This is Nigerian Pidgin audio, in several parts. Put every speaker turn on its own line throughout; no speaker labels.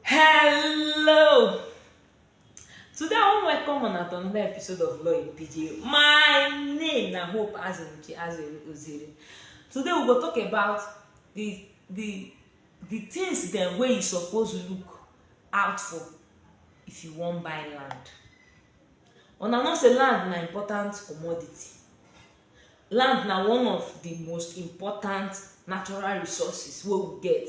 Hello! Today I wan welcome una to another episode of Law in PJ. My name na Hope Azunuchi Azere Ozere. Today we go talk about the the the things dem wey you suppose look out for if you wan buy land. Una know say land na important commodity. Land na one of the most important natural resources wey we get.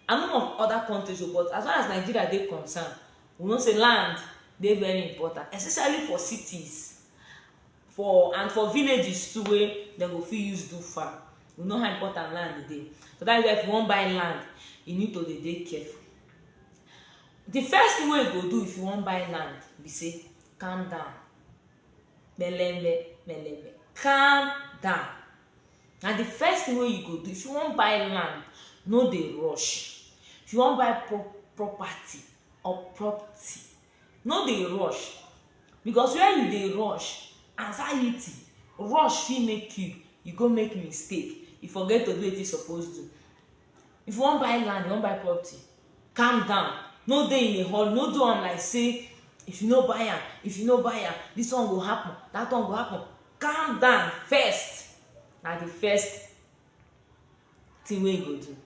I no know of other countries o but as far as Nigeria dey concern, we know say land dey very important especially for cities for and for villages too wey dem go fit use do farm. We know how important land dey. So dat is why if you wan buy land, you need to dey dey careful. The first thing wey you go do if you wan buy land be say calm down. melembe melembe calm down na the first thing wey you go do if you wan buy land no dey rush if you wan buy pro property or property no dey rush because when you dey rush anxiety rush fit make you you go make mistake you forget to do wetin you suppose do if you wan buy land you wan buy property calm down no dey in a hurry no do am like say if you no buy am if you no buy am this one go happen that one go happen calm down first na the first thing wey you go do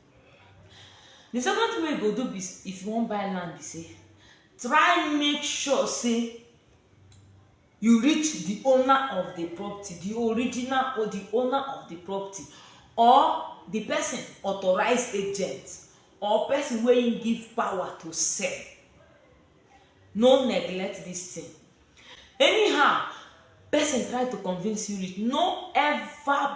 the second thing wey you go do be s- if you wan buy land be say try make sure say you reach the owner of the property the original or the owner of the property or the person authorized agent or person wey him give power to sell no neglect this thing anyhow person try to convince you reach no ever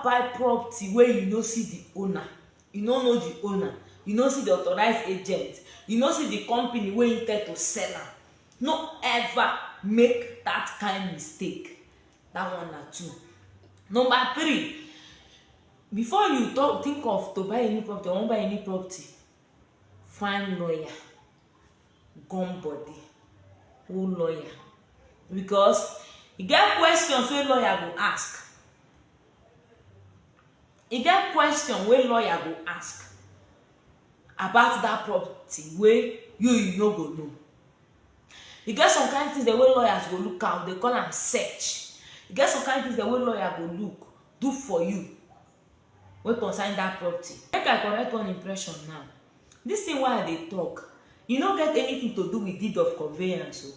buy property wey you no see the owner you no know the owner you no see the authorized agent you no see the company wey him tell to sell am no ever make that kind mistake that one na two number three before you talk think of to buy any property or wan buy any property find lawyer gum body who lawyer because e get questions wey lawyer go ask e get question wey lawyer go ask about that property wey you you no go know e get some kind things dem wey lawyers go look am dey call am search e get some kind things dem wey lawyer go look do for you wey concern that property make i correct one impression now this thing wey i dey talk e no get anything to do with deed of conveyance o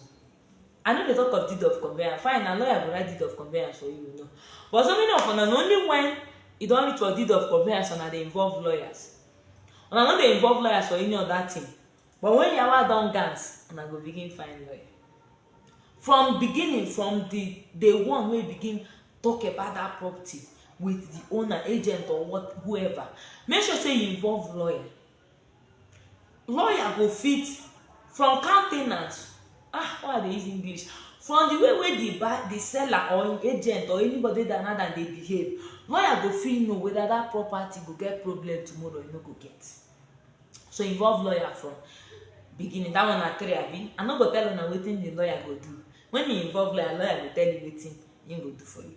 I no dey talk of deed of conveyance, fine na lawyer go write deed of conveyance for you no but so many of una na only when e don reach for deed of conveyance una dey involve lawyers. Una no dey involve lawyers for any other thing but when yawa don gas una go begin find lawyer. From beginning from the day one wey begin talk about that property with the owner, agent or what whoever make sure say you involve lawyer lawyer go fit from car ten ant ah why i dey use english from the way wey the buy the seller or him agent or anybody that another dey behave lawyer go fit know whether that property go get problem tomorrow or e no go get so involve lawyer from beginning that one na three abi i no go tell una wetin the lawyer go do when he involve lawyer lawyer go tell you wetin him go do for you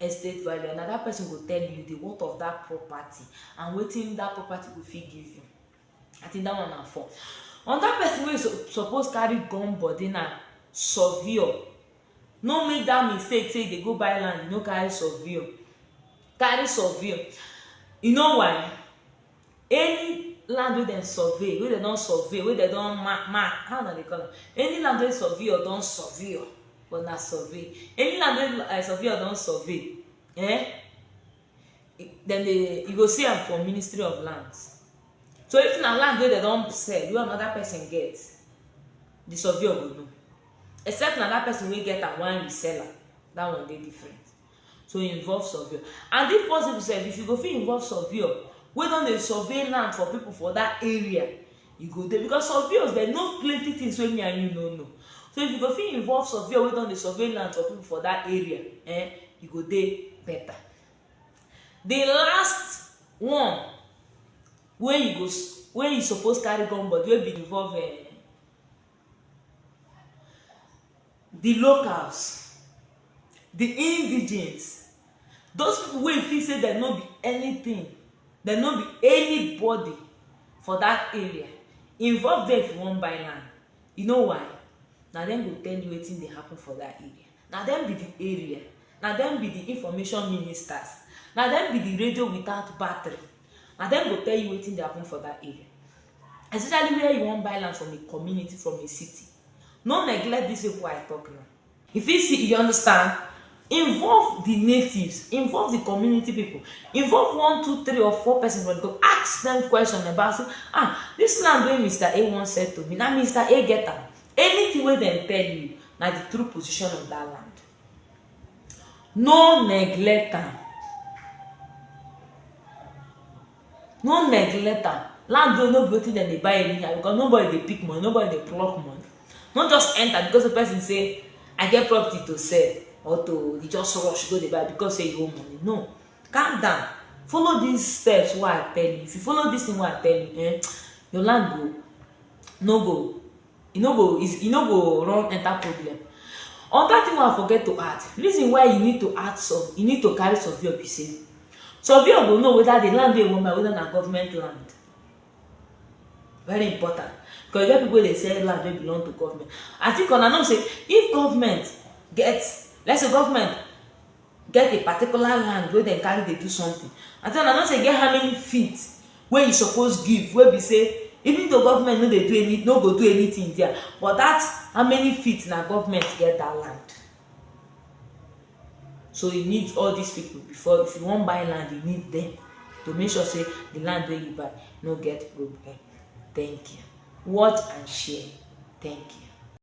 estate value and na that person go tell you the worth of that property and wetin that property go fit give you i think that one na four another person wey so, suppose carry gun body na surveyor no make that mistake say you dey go buy land you no carry surveyor carry surveyor you know why Any land wey dem survey, wey dem don survey, wey dem don mark, mark, how una dey call am? Any land wey surveyor don surveyor, but na survey. Any land wey um surveyor don survey um dem dey, you go see am for ministry of lands. So, if na land wey dem don sell, wey another person get, the surveyor go know. Except na that person wey get am wan resell am, that one dey different. to involve surveyor and if possible sef if you go fit involve surveyor wey don dey survey land for people for that area you go dey because surveyors dem know plenty things wey me and you no know so if you go fit involve surveyor wey don dey survey land for people for that area eh you go dey better the last one wey you go wey you suppose carry come body wey be involve eh di locals, di indigenes, those people wey feel sey dem no be anything, dem no be anybody for dat area, involve dem if you wan buy land, you know why? na dem go tell you wetin dey happen for dat area, na dem be di area, na dem be di information ministers, na dem be di radio without battery, na dem go tell you wetin dey happen for dat area. especially where you wan buy land from a community, from a city. No neglect these people I talk now. You fit see, you understand? Involve the natives, involve the community people, involve one, two, three, or four persons when go ask them question about say, ah, this land wey Mr. A wan sell to me, na Mr. A get am. Anything wey dem tell you, na the true position of that land. No neglect am. No neglect am, land o no be wetin dem dey buy anyhow because nobody dey pick money, nobody dey pluck money. No just enter because sey person sey I get property to sell or to you just rush go dey buy because sey you owe money, no. Calm down, follow dis steps wey I tell you, if you follow dis thing wey I tell you um your land go no go e no go e no go run enter problem. Another thing wey I forget to add, reason why you need to add survey, you need to carry surveyor be sey, surveyor go know whether de land wey you wan buy whether na government land, very important because e get pipu wey dey sell land wey belong to government. I think una know sey if government get, let's say government get a particular land wey dem carry dey do something and den I know sey e get how many feet wey you suppose give wey be sey even though government no dey do any no go do anything dia but dat how many feet na government get dat land so you need all dis people before if you wan buy land you need dem to make sure sey the land wey you buy no get problem thank you watch and share thank you